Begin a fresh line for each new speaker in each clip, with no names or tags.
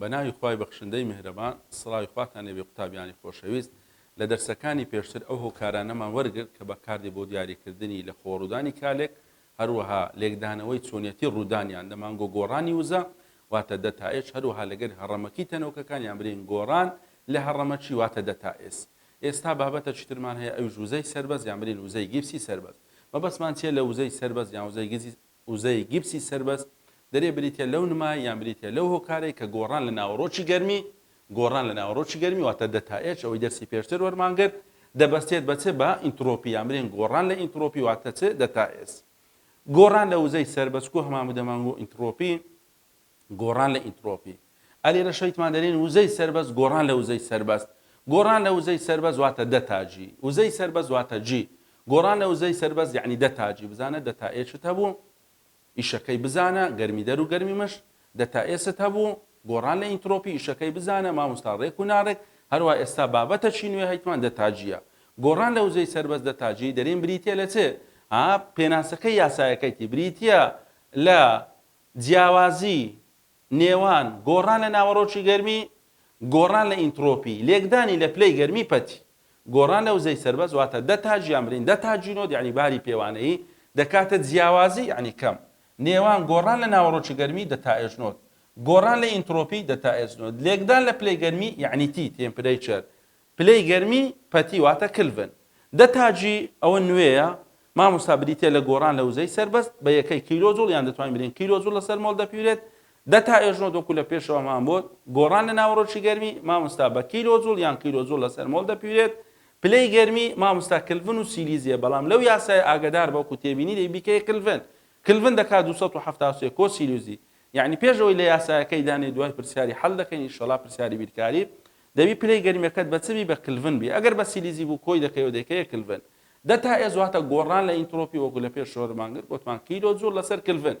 بە ناوی خوای بەخشندەی میهرەبان سڵاوی خواتان لێبێ قوتابیانی خۆشەویست لە دەرسەکانی پێشتر ئەو هۆکارانەمان وەرگرت کە بەکاردێ بۆ دیاریکردنی لە خۆڕودانی کالێک هەروەها لێکدانەوەی چۆنیەتی ڕوودانیان لە مانگۆ گۆڕانی وزە واتە دەتائێش هەروەها لەگەر هەڕەمەکی تەنۆکەکان یان برین گۆڕان لە هەڕەمەکی واتە دەتائێس ئێستا بابەتە چیترمان هەیە ئەویش وزەی سەربەز یان برین وزەی گیپسی سەربەز مەبەستمان چیە لە وزەی سەربەز یان وزەی گزی وزەی گیپسی سەربەز دەرێ بریتە لەو نمای یان بریتە لەو هۆکارەی کە گۆڕان لە ناوەڕۆکی گەرمی گۆڕان لە ناوەڕۆکی گەرمی واتە دەتا ئێچ ئەوەی دەرسی پێشتر وەرمان گرت دەبەستێت بە چ بە ئینتڕۆپی یان بلێن گۆڕان لە ئینتڕۆپی واتە چ دەتا ئێس گۆڕان لە وزەی سەر بە سکۆ هەمان بدەمان و ئینتڕۆپی گۆڕان لە ئینتڕۆپی ئەلی لە شەیتمان دەرێن وزەی سەربەست گۆڕان لە وزەی سەربەست گۆڕان لە وزەی سەربەست واتە دەتاجی وزەی سەربەست واتە جی گۆڕان لە وزەی سەربەست یعنی دەتاجی بزانە دەتا ئێچت هەبوو ئیشەکەی بزانە، گەرمی دەر و گەرمی مشت، دە تا ئێست هەبوو، گۆڕان لە ئینترۆپی، ئیشەکەی بزانە، ماموستا ڕێک و ناڕێک، هەروا ئێستا بابەتە چی نوێ هەیتمان دە تا جیە. گۆڕان لە وزەی سەربەست دە تا جی دەرێن بریتیە لە چ؟ ها پێناسەکەی یاسایەکەیتی بریتیە لە جیاوازی نێوان، گۆڕان لە ناوەڕۆکی گەرمی، گۆڕان لە ئینتڕۆپی، لێکدانی لە پلەی گەرمی پەتی، گۆڕان لە وزەی سەربەست واتە دە تاج یان برین دە تاج جینۆد یانی باری پێوانەیی دەکاتە جیاوازی یانی کەم نێوان، گۆڕان لە ناوەڕۆکی گەرمی، دە تا ئێجنۆد، گۆڕان لە ئینتڕۆپی، دە تا ئێجنۆد، لێکدان لە پلەی گەرمی یانی تی، تێمپرەیچەر، پلەی گەرمی پەتی واتە کلڤن. دە تاجی ئەوە نوێیە مامۆستا بریتیە لە گۆڕان لە وزەی سەربەست بە یەکەی کیلۆ جوڵ یان دەتوانین بلێین کیلۆ جوڵ لەسەر مۆڵ دەپیورێت دە تا ئێژنۆت وەکو لە پێشەوە مان بۆ گۆڕان لە ناوەڕۆکی گەرمی مامۆستا بە کیلۆ جوڵ یان کیلۆ جوڵ لەسەر مۆڵ دەپیورێت پلەی گەرمی مامۆستا کلڤن و سیلیزیە بەڵام لەو یاسای ئاگدار بە وەکو تێبینی دەی بیکەی کلڤن کلڤن دەکات 273 کۆ سیلیزی یەعنی پێش ئەوەی لە یاسایەکەی دانێی دوای پرسیاری حەل دەکەین ئیشەڵا پرسیاری بیرکاری دەبی پلەی گەرمیەکەت بە چ بی بە کلڤن بی ئەگەر بە سیلیزی بوو کۆی دەکەی و دەیکەیە کلڤن دە تا ئێز واتە گۆڕان لە ئینترۆپی وەکو لە پێش شۆرمان گرت گۆتمان کیلۆ جوڵ لەسەر کلڤن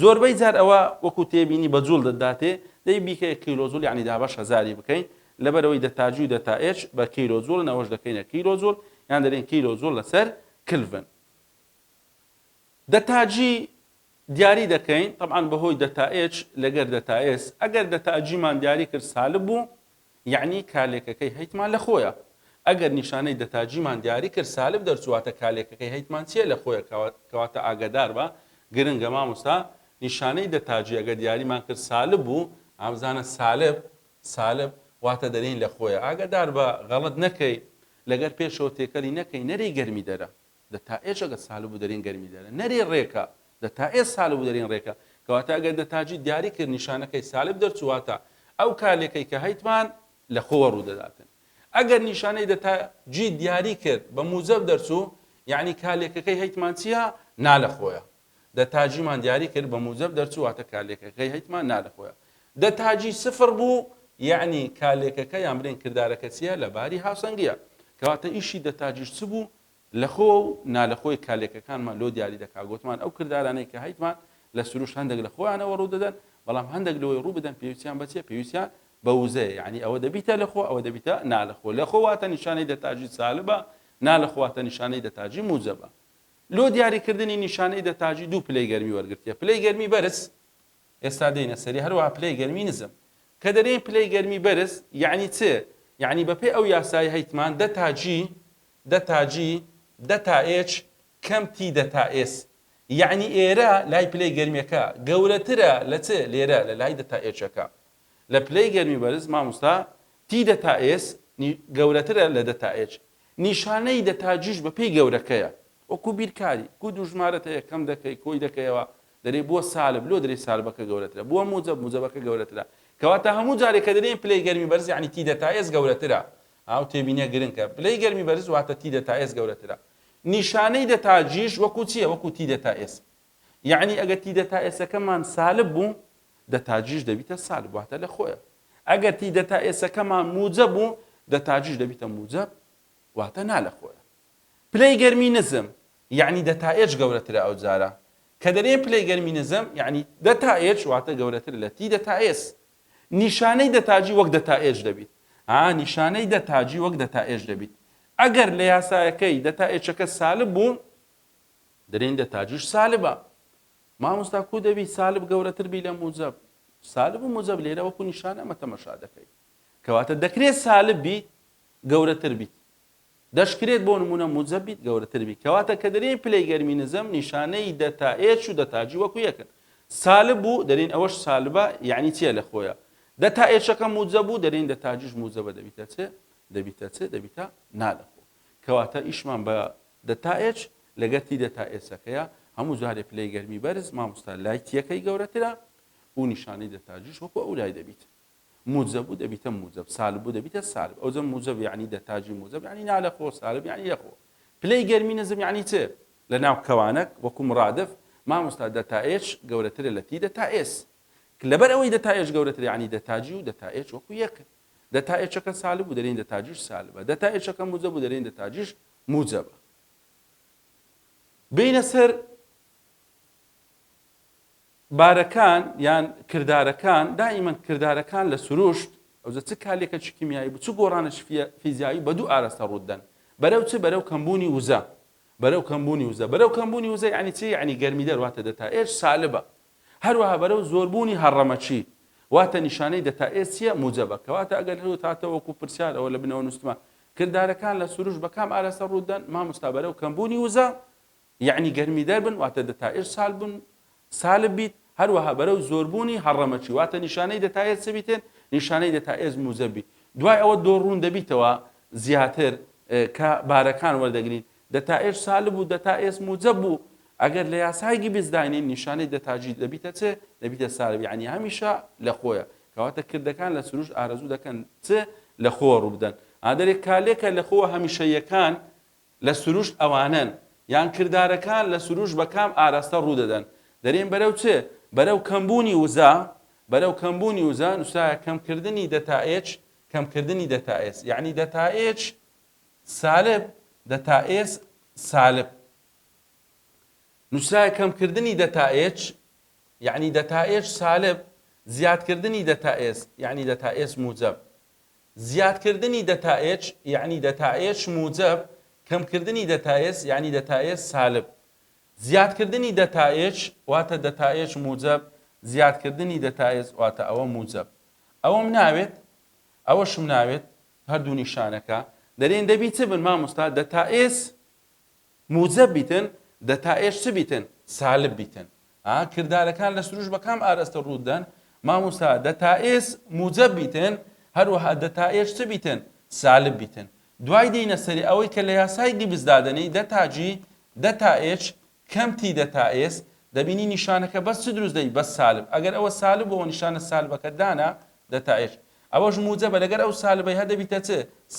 زۆربەی جار ئەوە وەکو تێبینی بە جوڵ دەداتێ دەی بیکەیە کیلۆ جوڵ یعنی دابەش هەزاری بکەین لەبەرەوەی دە تاجی و دە تا ئێچ بە کیلۆ جوڵن ئەوەش دەکەینە کیلۆ جوڵ یان دەرێن کیلۆ جوڵ لەسەر کلڤن دە تاجی دیاری دەکەین تەبعەن بەهۆی دەتا ئێچ لەگەر دەتا ئێس ئەگەر دەتا جیمان دیاری کرد سالب بوو یەعنی کالێکەکەی هەیتمان لە خۆیە ئەگەر نیشانەی دەتا جیمان دیاری کرد سالب دەرچواتە کالێکەکەی هەیتمان چیە لە خۆیە کەواتە ئاگەدار بە گرنگە مامۆستا نیشانەی دەتا جی ئەگەر دیاریمان کرد سالب بوو ئامزانە سالب سالب واتە دەرین لە خۆیە ئاگەدار بە غەڵەت نەکەی لەگەر پێشەوە تێکەلی نەکەی نەری گەرمی دەرە دە تا ئێ چە گە سالب و دەرین گەرمی دە نە رێ رێ کە دە تا ئێ سالب و دەرین رێ کە کە واتە ئەگەر دە تاجی دیاری کرد نیشانە کەی سالب دەرچوو واتە ئە و کالێ کەی کە هەیتمان لە خۆ وە رودە داتن ئەگەر نیشانەی دە تا جی دیاری کرد بە موجەب دەرچوو یعنی کالێ کە کەی هەیتمان چیە نا لە خۆیە دە تاجیمان دیاری کرد بە موجەب دەرچوو واتە کالێ کە کەی هەیتمان نا لە خۆیە دە تاجی سفر بوو یعنی کالێ کە کە یان برێن کردارە کە چیە لە باری هاوسەنگیە کە واتە ئیشی دە تاجیش چ بوو لە خۆ و نالەخۆی کالێکەکانمان لۆ دیاری دەکا، گۆتمان ئەو کردارانەی کە هەیتمان لە سروشت هەندەک لە خۆیانەوە ڕوو دەدەن، بەڵام هەندەک لۆی ڕوو بدەن پێویستیان بە چیە؟ پێویستیان بە وزەیە، یەعنی ئەوە دەبیتە لە خۆ ئەوە دەبیتە نالەخۆ، لە خۆ واتە نیشانەی دەتاجی سالبە، نالەخۆ واتە نیشانەی دەتاجی موجەبە. لۆ دیاری کردنی نیشانەی دەتاجی دوو پلەی گەرمی وەرگرتیە، پلەی گەرمی بەرز، ئێستا دێینە سەری، هەروەها پلەی گەرمی نزم. کە دەرێین پلەی گەرمی بەرز یەعنی چ؟ یەعنی بە پێ ئەو یاسایە هەیتمان دەتاجی دە تا جی دە تا ئێچ کەم تی دە تا ئێس یەعنی ئێرە لای پلەی گەرمیەکە گەورەترە لە چ لێرە لە لای دە تا ئێچەکە لە پلەی گەرمی بەرز ماموستا تی دە تا ئێس نی گەورەترە لە دە تا ئێچ نیشانەی دە تا جیش بە پێی گەورەکەیە وەکو بیرکاری کو دوو ژمارە تە یە کەم دەکەی کۆی دەکەیەوە دەرێ بۆ سالب لۆ دەرێ سالبەکە گەورەترە بۆ موجەب موجەبەکە گەورەترە کەواتە هەموو جارێ کە دەرێ پلەی گەرمی بەرز یەعنی تی دە تا ئێس گەورەترە ئاو تێبینیە گرنکە پلەی گەرمی بەرز واتە تی دەتا ئێس گەورەترە نیشانەی دەتا جیش وەکو چیە وەکو تی دەتا ئێس یعنی ئەگەر تی دەتا ئێسەکەمان سالب بوو دەتا جیش دەبیتە سالب واتە لە خۆیە ئەگەر تی دەتا ئێسەکەمان موجە بوو دەتا جیش دەبیتە موجە واتە نا لە خۆیە پلەی گەرمی نزم یعنی دەتا ئێج گەورەترە ئەو جارە کە دەرێن پلەی گەرمی نزم یعنی دەتا ئێج واتە گەورەتر لە تی دەتا ئێس نیشانەی دە تاجی وەک دە تائێج دەبیت. ئا نیشانەی دە تاجی وەک دە تائێج دەبیت. ئەگەر لە یاسایەکەی دە تائێچەکە سالب بوون، درێن دە تاجیش سالبە. مامۆستا کوو دەبی سالب گەورەتر بی لە موجەب؟ سالب و موجەب لێرە وەکو نیشانە ئەمە تەمەشا دەکەی. کەواتە دەکرێت سالب بیت گەورەتر بیت. دەشکرێت بۆ نموونە موجەب بیت گەورەتر بیت کەواتە کە دەرێین پلەی گەرمی نزم نیشانەی دەتا ئێچ و دەتا جی وەکو یەکن سالب بوو دەرێین ئەوەش سالبە یەعنی چیە لە خۆیە دەتا ئێچەکە موجەب بوو دەرێین دەتا جیش موجەبە دەبیتە چێ دەبیتە چێ دەبیتە نا لە خۆ کەواتە ئیشمان بە دەتا ئێچ لەگەر تی دەتا ئێچەکەیە هەموو جارێ پلەی گەرمی بەرز مامۆستا لای تیەکەی گەورەترە و نیشانەی دەتا جیش وەکو ئەو لای دەبیت موجە بوو دەبیتە موجەب سالب بوو دەبیتە سالب ئەوجە موجەب یعنی دە تاجی موجەب یعنی نالە خۆ سالب یعنی لە خۆ پلەی گەرمی نزم یعنی چ لە ناو کەوانەک وەکو مرادف مامۆستا دە تا ئێچ گەورەترە لە تی دە تا ئێس لەبەر ئەوەی دە تا ئێچ گەورەتر یعنی دە تاجی و دە تا ئێچ وەکو یەک دە تا ئێچەکە سالب بوو دەرین دە تاجیش سالبە دە تا ئێچەکە موجەب بوو دەرین دە تاجیش موجەبە بینە سەر بارەکان یان کردارەکان، دائیمەن کردارەکان لە سروشت، ئەوجە چ کالێکەکی کیمیایی بو چ گۆڕانێکی فیە فیزیایی بە دوو ئارەستە روت دەن، بەرەو چ بەرەو کەمبوونی وزە، بەرەو کەمبوونی وزە، بەرەو کەمبوونی وزە یانی چی یانی گەرمیدەر واتە دەتا ئێچ سالبە، هەروەها بەرەو زۆربوونی هەڕەمەکی واتە نیشانەی دەتا ئێچ چیە موجەبە، کەواتە ئەگەر روت هاتە وەکو پرسیار ئەوە لە بنەوە نوستمە کردارەکان لە سروشت بە کام ئارەستە روت دەن ماموستا بەرەو کەمبوونی وزە یەعنی گەرمیدەر بن واتە دەتائر سالب بن، سالب بیت، هەروەها بەرەو زۆربوونی هەڕەمەکی، واتە نیشانەی دەتائر چ بیتێن؟ نیشانەی دەتائر موجەب بیت. دوای ئەوە دۆ ڕوون دەبیتەوە زیاتر کە بارەکان وەردەگرین، دەتائر سالب و دەتائر موجەب بوو، ئەگەر لە یاسای گیبس داینێین نیشانەی دەتاجی دەبیتە چ؟ دەبیتە سالب، یەعنی هەمیشە لە خۆیە. کەواتە کردەکان لە سروشت ئارەزوو دەکەن چ؟ لە خۆوە ڕوو بدەن. ئا دەرێ کالێکە لە خۆوە هەمیشەییەکان لە سروشت ئەوانەن، یان کردارەکان لە سروشت بە کام ئاراستە ڕوو دەدەن؟ دەرێن بەرەو چ؟ بەرەو کەمبوونی وزە؟ بەرەو کەمبوونی وزە نووسرایە کەمکردنی دەتائێچ، کەمکردنی دەتائێس، یەعنی دەتائێچ سالب، دەتائێس سالب. نووسرایە کەمکردنی دەتائێچ، یەعنی دەتائێچ سالب، زیادکردنی دەتائێس، یەعنی دەتائێس موجەب. زیادکردنی دەتائێچ یەعنی دەتائێچ موجەب، کەمکردنی دەتائێس یەعنی دەتائێس سالب. زیادکردنی دەتائێچ واتە دەتائێچ موجەب، زیادکردنی دەتائێس واتە ئەوە موجەب. ئەوەم ناوێت، ئەوەشم ناوێت، هەردوو نیشانەکە، دەرێن دەبی چ بن مامۆستا؟ دەتائێس موجەب بیتن، دە تا ئێش چ بیتن؟ سالب بیتن. ئا کردارەکان لە سروش بە کام ئارەستە ڕووت دەن؟ ماموستا دە تا ئێس موجەب بیتن، هەروەها دە تا ئێش چ بیتن؟ سالب بیتن. دوای دێینە سەری ئەوەی کە لە یاسای گیبس دادەنێی دە تا جی، دە تا ئێچ، کەم تی دە تا ئێس، دەبینی نیشانەکە بەس چ دروست دەبی؟ بەس سالب. ئەگەر ئەوە سالب بووەوە نیشانە سالبەکەت دانا، دە تا ئێش. ئەوەش موجەبە لەگەر ئەو سالبەی هە دەبیتە چ؟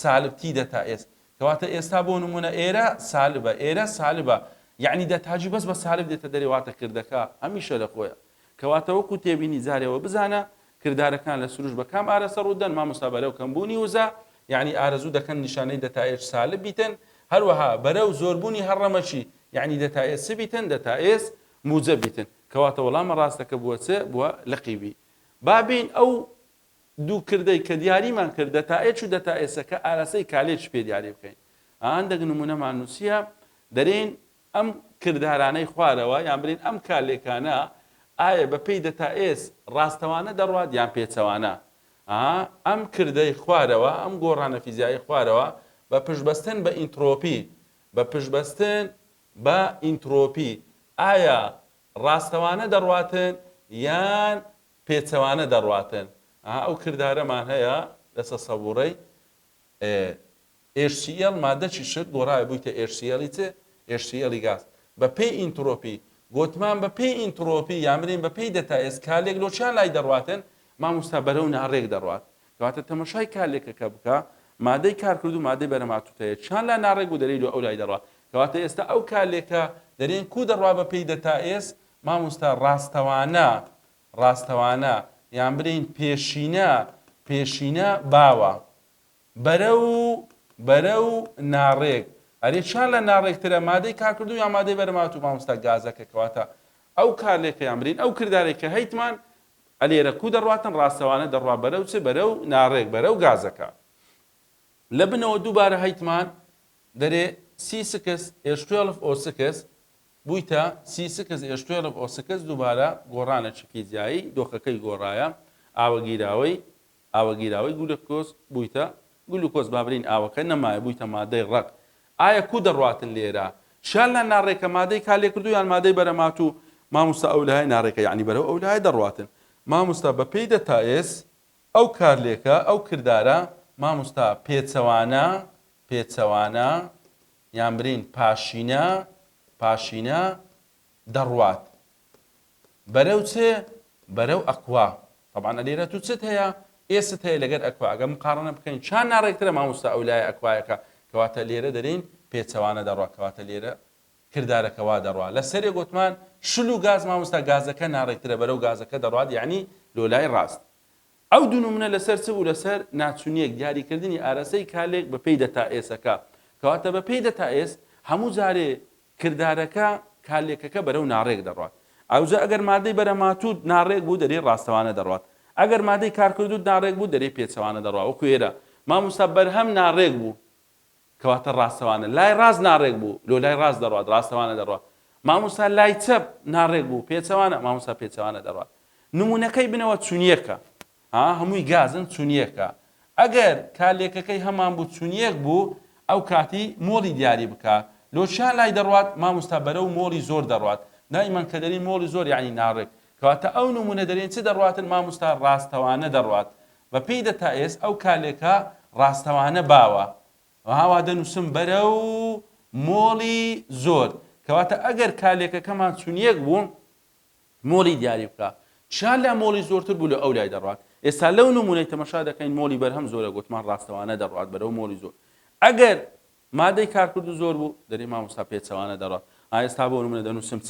سالب تی دە تا ئێس. کەواتە ئێستا بۆ نمونە ئێرە سالبە ئێرە سالبە یەعنی دە تاجی بەس بە سالب دێتە دەرێ واتە کردەکە هەمیشە لە خۆیە کەواتە وەکو تێبینی جارێ ئەوە بزانە کردارەکان لە سروش بە کام ئارەسە ڕوودەن مامۆستا بەرەو کەمبوونی وزە یەعنی ئارەزوو دەکەن نیشانەی دە تائێج سالب بیتن هەروەها بەرەو زۆربوونی هەڕەمەکی یەعنی دە تائێج چ بیتن دە تائێج موجە بیتن کەواتە وەڵامە ڕاستەکە بووە چ بووە لقی بی بابین ئەو دوو کردەی کە دیاریمان کرد، دەتائێچ و دەتائێسە، کە ئاراستەی کالێچ پێ دیاری بکەین. ئا هەندێک نموونەمان نووسییە، دەرێین ئەم کردارانەی خوارەوە، یان برێین ئەم کالێکانە، ئایا بە پێی دەتائێس ڕاستەوانە دەڕوات یان پێچەوانە؟ ئا ئەم کردەی خوارەوە، ئەم گۆڕانە فیزیایی خوارەوە، بە پشتبەستن بە ئینترۆپی، بە پشتبەستن بە ئینترۆپی، ئایا ڕاستەوانە دەڕواتن یان پێچەوانە دەڕواتێن ئا ئەو کردارەمان هەیە لە سەسەووڕەی ئێ ئێش سی ئێڵ مادەچی شت گۆڕاوە بوویتە ئێش سی ئێڵی چ؟ ئێش سی ئێڵی گاز بە پێی ئینتڕۆپی گۆتمان بە پێی ئینتڕۆپی یان برێن بە پێی دەتا ئێس کالێک لۆ چیان لای دەڕواتێن ماموستا بەرەو ناڕێک دەڕوات کەواتە تەمەشای کالێکەکە بکە مادەی کارکردو مادەی بەرەماتوتەیە چیان لا ناڕێک بوو دەرێی لۆ ئەو لای دەڕوات کەواتە ئێستا ئەو کالێکە دەرێن کو دەڕوا بە پێی دەتا ئێس ماموستا ڕاستەوانە ڕاستەوانە یان برێین پێشینە پێشینە باوە بەرەو بەرەو ناڕێک ئەرێ چیان لە ناڕێکترە مادەی کارکردو یا مادەی بەرمات و ماموستا گازەکە کەواتە ئەو کارلێکەیان برین ئەو کردارێک کە هەیتمان ئەلێرە کو دەڕاتن ڕاستەوانە دەڕوا بەرەو چ بەرە و ناڕێک بەرە و گازەکە لە بنەوە دووبارە هەیتمان دەرێ سی سکس ئێش توێڵف ئۆ سکس بویتە سی سکس ئێش توێڵڤ ئۆ سکس دووبارە گۆڕانە چکی جیایی دۆخەکەی گۆڕایە ئاوە گیراوەی ئاوە گیراوەی گولکۆز بویتە گلوکۆز با برین ئاوەکە نەمایە بویتە مادەی ڕەق ئایا کو دەڕواتن لێرە شیانلا ناڕێکە مادەی کا لێکردوو یان مادەی بەرەماتوو ماموستا ئەو لای ناڕێکە یانی بەرەو ئەو لایە دەڕواتن ماموستا بە پێی دە تا ئێس ئەو کارلێکە ئەو کردارە ماموستا پێچەوانە پێچەوانە یان برین پاشینە پاشینە دەڕوات بەرەو چ بەرەو ئەکوا طبعا ئەلێرە تو چت هەیە ئێست هەیە لەگەر ئەکوا ئەگەر مقارنە بکەین چان ناڕێکترە ماموستا ئەو لای ئەکوایەکە کەواتە لێرە دەرین پێچەوانە دەڕوا کەواتە لێرە کردارەکەوا دەڕوا لە سەرێ گوتمان شل و گاز ماموستا گازەکە ناڕێکترە بەرەو گازەکە دەڕات یعنی لۆلای ڕاست ئەو دوو نمونە لەسەر چ بوو لەسەر ناچونیەک دیاری کردنی ئارەسەی کالێک بە پێی دەتا ئێسەکە کەواتە بە پێی دەتا ئێس هەموو جارێ کردارەکە کالێکەکە بەرەو ناڕێک دەڕوات ئەوجا ئەگەر مادەی بەرە ماتوود ناڕێک بوو دەرێ ڕاستەوانە دەڕوات ئەگەر مادەی کارکردوود ناڕێک بوو دەرێ پێچەوانە دەڕوا وەکو ئێرە ماموستا بەرهەم ناڕێک بوو کەواتە ڕاستەوانە لای ڕاست ناڕێک بوو، لۆ لای ڕاست دەڕوات، ڕاستەوانە دەڕوات. مامۆستا لای چەپ ناڕێک بوو، پێچەوانە، مامۆستا پێچەوانە دەڕوات. نموونەکەی بنەوە چون یەکە. ها هەمووی گازن چون یەکە. ئەگەر کالێکەکەی هەمان بوو چون یەک بوو، ئەو کاتی مۆڵی دیاری بکە. لۆ چیان لای دەڕوات؟ مامۆستا بەرەو مۆڵی زۆر دەڕوات. دایمەن کە دەرین مۆڵی زۆر یانی ناڕێک. کەواتە ئەو نموونە دەرێن چ دەڕواتن مامۆستا ڕاستەوانە دەڕوات. بە پێی دەتائێس ئەو کالێکە ڕاستەوانە باوە ها وا دەنووسم بەرەو مۆڵی زۆر کەواتە ئەگەر کالێکەکەمان چونیەک بوو مۆڵی دیاری بکە چیان لە مۆڵی زۆرتر بوو لە ئەو لای دەڕات ئێستا لەو نمونەی تەمەشا دەکەین مۆڵی بەرهەم زۆرە گوتمان ڕاستەوانە دەڕات بەرەو مۆڵی زۆر ئەگەر مادەی کارکرد و زۆر بوو دەری مامۆستا پێچەوانە دەڕات ئاێستا بۆ نمونە دەنووسم چ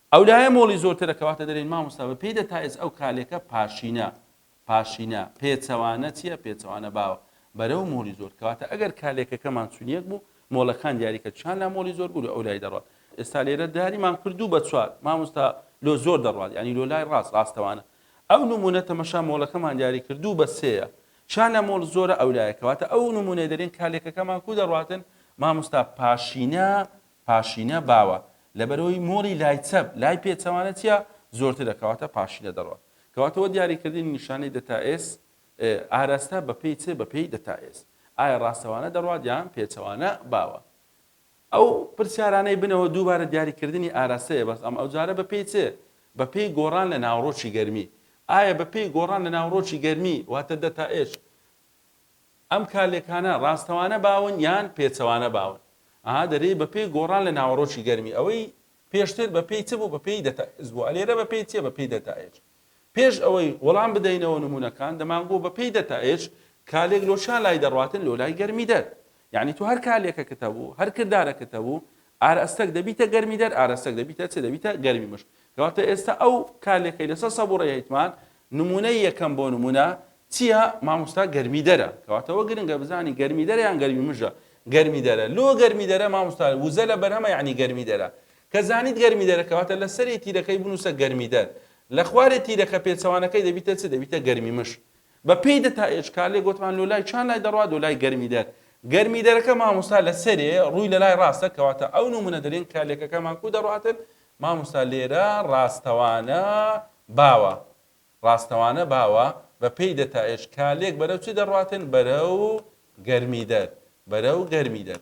ئەو لایە مۆڵی زۆرترە کەواتە دەرێن مامۆستا بە پێی دە تا ئێس ئەو کالێکە پاشینە پاشینە پێچەوانە چیە پێچەوانە باوە بەرەو مۆری زۆر کەواتە ئەگەر کالێکەکەمان چونیەک بوو مۆڵەکان دیاریکە چیان لا مۆلی زۆر بوو ئەو لای دەڕات ئێستا لێرە داریمان کردو بە چوار مامۆستا لۆ زۆر دەڕات ینی لۆ لای ڕاست ڕاستەوانە ئەو نمونە تەمەشا مۆڵەکەمان دیاری کردو بە سەیە چیان لە مۆڵ زۆرە ئەولایەکەواتە ئەو نمونەی دەرێن کالێکەکەمان کو دەڕاتن مامۆستا پاشینە پاشینە باوە لەبەرەوەی مۆری لای چەپ لای پێچەوانە چیە زۆرترە کەواتە پاشینە دەڕوات کەواتە وە دیاری کردنی نیشانەی دەتا ئێس ئێ ئاراستە بە پێی چ بە پێی دەتا ئێس ئایا ڕاستەوانە دەڕوات یان پێچەوانە باوە ئەو پرسیارانەی بنەوە دووبارە دیاری کردنی ئاراستەیە بەس ئەم ئەو جارە بە پێی چ بە پێی گۆڕان لە ناوەڕۆکی گەرمی ئایا بە پێی گۆڕان لە ناوەڕۆکی گەرمی واتە دەتا ئێش ئەم کالێکانە ڕاستەوانە باون یان پێچەوانە باون؟ ئەها دەرێی بەپێی گۆڕان لە ناوەڕۆکی گەرمی ئەوەی پێشتر بەپێی چ بوو بەپێی دەتائز بوو ئەلێرە بەپێی چیە بەپێی دەتائێج پێش ئەوەی وەڵام بدەینەوە نمونەکان دەمانگۆ بەپێی دەتائێج کالێک لۆ چا لای دەڕواتن لۆ لای گەرمی دەر یانی تۆ هەر کالێکەکت هەبوو هەر کردارەکت هەبوو ئارەستەک دەبیتە گەرمی دەر ئارەستەک دەبیتە چ دەبیتە گەرمی مشک کەواتە ئێستا ئەو کالێکەی لەسەر سەبوڕەی هەیتمان نمونەی یەکەم بۆ نمونە چییە مامۆستا گەرمی دەرە کەواتەوە گرنگە بزانی گەرمی دەرە یان گەرمی مژە گەرمی دەرە لۆ گەرمی دەرە مامۆستا وزە لە بەرهەمە یعنی گەرمی دەرە کە زانیت گەرمی دەرە کەواتە لە سەری تیرەکەی بنووسە گەرمی دەر لە خوارێ تیرەکە پێچەوانەکەی دەبیتە چ دەبیتە گەرمی مش بە پێی دەتا ئێچ کار لێ گۆتمان لۆ لای چان لای دەڕوات لۆ لای گەرمی دەر گەرمی دەرەکە مامۆستا لە سەرێ ڕووی لە لای ڕاستە کەواتە ئەو نمونە دەرێن کە لەکەکەمان کو دەڕواتن مامۆستا لێرە ڕاستەوانە باوە ڕاستەوانە باوە بە پێی دەتا ئێچ کالێک بەرەو چی دەڕواتن بەرەو گەرمی دەر بەرەو گەرمی دەر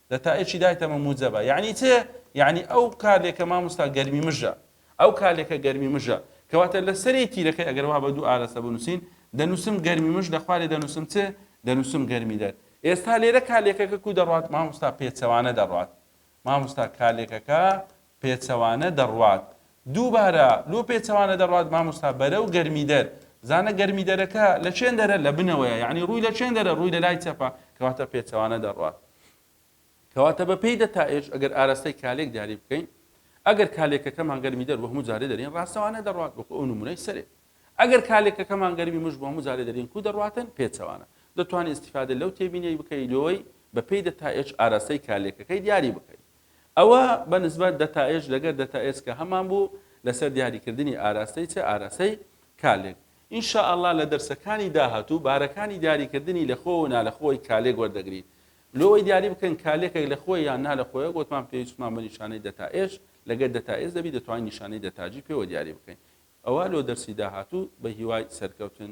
دە تا ئێکی دایتە مە موجەبە یەعنی چ یەعنی ئەو کا لێکە ماموستا گەرمی مژە ئەو کا لێکە گەرمی مژە کەواتە لە سەری تیرەکەی ئەگەر وا بە دوو ئالەسە بنووسین دەنووسم گەرمی مژ لە خوارێ دەنووسم چ دەنووسم گەرمی دەر ئێستا لێرە کا لێکەکە کو دەڕات ماموستا پێچەوانە دەڕات ماموستا کا لێکەکە پێچەوانە دەڕوات دووبارە لۆ پێچەوانە دەڕوات ماموستا بەرەو گەرمیدەر زانە گەرمیدەرەکە لە چێندەرە لە بنەوەیە یعنی ڕووی لە چێندەرە ڕووی لە لای چەپە کەواتە پێچەوانە دەڕوات کەواتە بە پێی دەتا ئێش ئەگەر ئاراستەی کالێک دیاری بکەین ئەگەر کالێکەکەمان گەرمی دەر وەهمو جارێ دەرین ڕاستەوانە دەڕات وەکو ئەو نمونەی سەرێ ئەگەر کالێکەکەمان گەرمی مش بۆ مجارێ دەرین کو دەڕاتن پێچەوانە دەتوانانی استفادە لەو تێبینەی بکەی لۆی بە پێی دەتا ئێش ئاراستەی کالێکەکەی دیاری بکەیت ئەوە بە نسبەت دەتائێژ لەگەر دەتائێس کە هەمان بوو لەسەر دیاری کردنی ئاراستەی چ ئاراستەی کالێک ان شاءاللە لە دەرسەکانی داهاتوو بارەکانی دیاری کردنی لە خۆ و نا لە خۆی کالێک وەردەگرین لۆوەی دیاری بکەین کالێکێک لە خۆی یان نا لە خۆیە گۆتمان پێویستمان بە نیشانەی دەتائێژ لەگەر دەتائێس دەبی دەتوانین نیشانەی دەتاجی پێوە دیاری بکەین ئەوە لۆ دەرسی داهاتوو بە هیوای سەرکەوتن